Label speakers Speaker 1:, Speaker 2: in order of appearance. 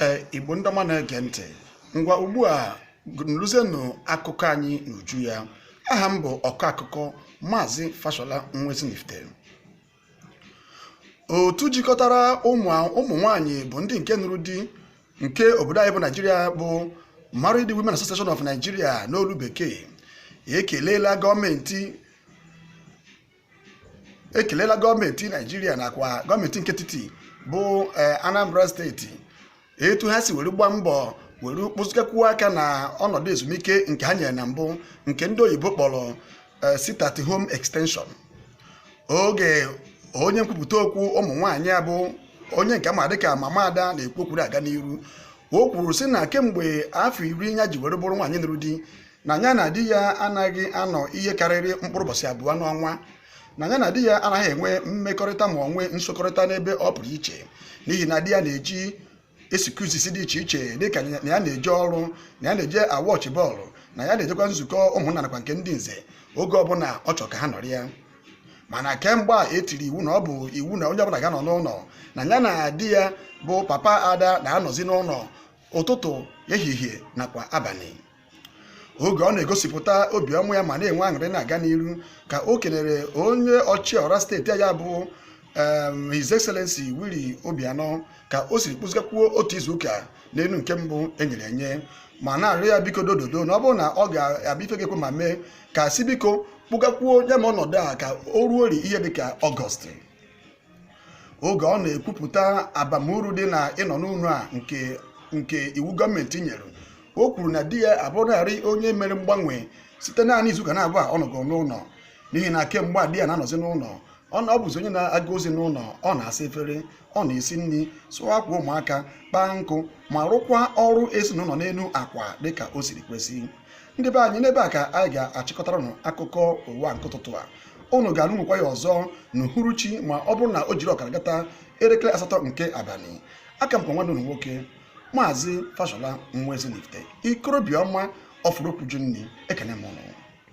Speaker 1: ee igbo ndị ọma na-ege ntị ngwa ugbu a nụrụzienụ akụkọ anyị n'uju ya aha m bụ ọkọ akụkọ maazị fashola nwa ezinifite otu jikọtara ụmụ nwanyị bụ ndị nke nụrụ di nke obodo anyị bụ naijiria bụ Married Women Association of Nigeria n'olu bekee ekelela gọọmenti ekelela gọọmenti naijiria nakwa gọọmenti nke etiti bụ eh, anambra steeti etu ha si were gbaa mbọ were kpụzigakwuo aka na ọnọdụ ezumike nke ha nyere na mbụ nke ndị oyibo kpọrọ eh, sit at home extension oge onye nkwupụta okwu ụmụ nwaanyị a bụ onye nke a ma dịka mama ada na-ekwu okwuru aga n'iru o kwuru sị na kemgbe afọ iri ya ji were bụrụ nwaanyị nụrụ di na ya na di ya anaghị anọ ihe karịrị mkpụrụ ụbọchị abụọ n'ọnwa na ya na di ya anaghị enwe mmekọrịta ma ọ nwee nsokọrịta n'ebe ọ pụrụ iche n'ihi na di ya na-eji excuses dị iche iche dịka na ya na-eje ọrụ na ya na-eje awatch ball na ya na-ejekwa nzukọ ụmụnna nakwa nke ndị nze oge ọbụla ọ chọrọ ka ha nọrịa mana kemgbe a e tiri iwu na ọ bụ iwu na onye ọbụla ga-anọ n'ụlọ na ya na di ya bụ papa ada na-anọzi n'ụlọ ụtụtụ ehihie nakwa abalị oge ọ na-egosipụta obiọma ya ma na-enwe aṅụrị na-aga n'iru ka o kelere onye ọchịọra steeti ya bụ His Excellency Willie Obianọ ka o siri kpụzigakwuo otu izuụka n'elu nke mbụ e nyere enye ma na-arịọ ya biko dododo na ọ bụrụ na ọ ga-abụ ife ga-ekwe omume ka si biko kpụgakwuo ya bụ ọnọdụ a ka o ruori ihe dịka ọgọst oge ọ na-ekwupụta abamuru dị na ịnọ n'ụlọ a nke iwu gọọmenti nyere o kwuru na di ya abụrụlarị onye mere mgbanwe site naanị izuụka n'abụa ọ nọgoro n'ụlọ n'ihi na kemgbe a di ya na-anọzi n'ụlọ ọ na- ọ bụzi onye na-aga ozi n'ụlọ ọ na-asa efere ọ na-esi nri sụọ akwa ụmụaka kpaa nkụ ma rụkwa ọrụ ezinụlọ n'elu akwa dịka o siri kwesị ndị be anyị n'ebe a ka anyị ga-achịkọtara unu akụkọ ụwa nke ụtụtụ a unu ga-anụnwekwa ya ọzọ n'uhuruchi ma ọ bụrụ na o jiri ọkara gata elekere asatọ nke abalị aka m kwa nwanne unu nwoke maazị fashola nwa ezinifite ikorobịa ọma ọfụrụ okwu jụ nri ekene m unu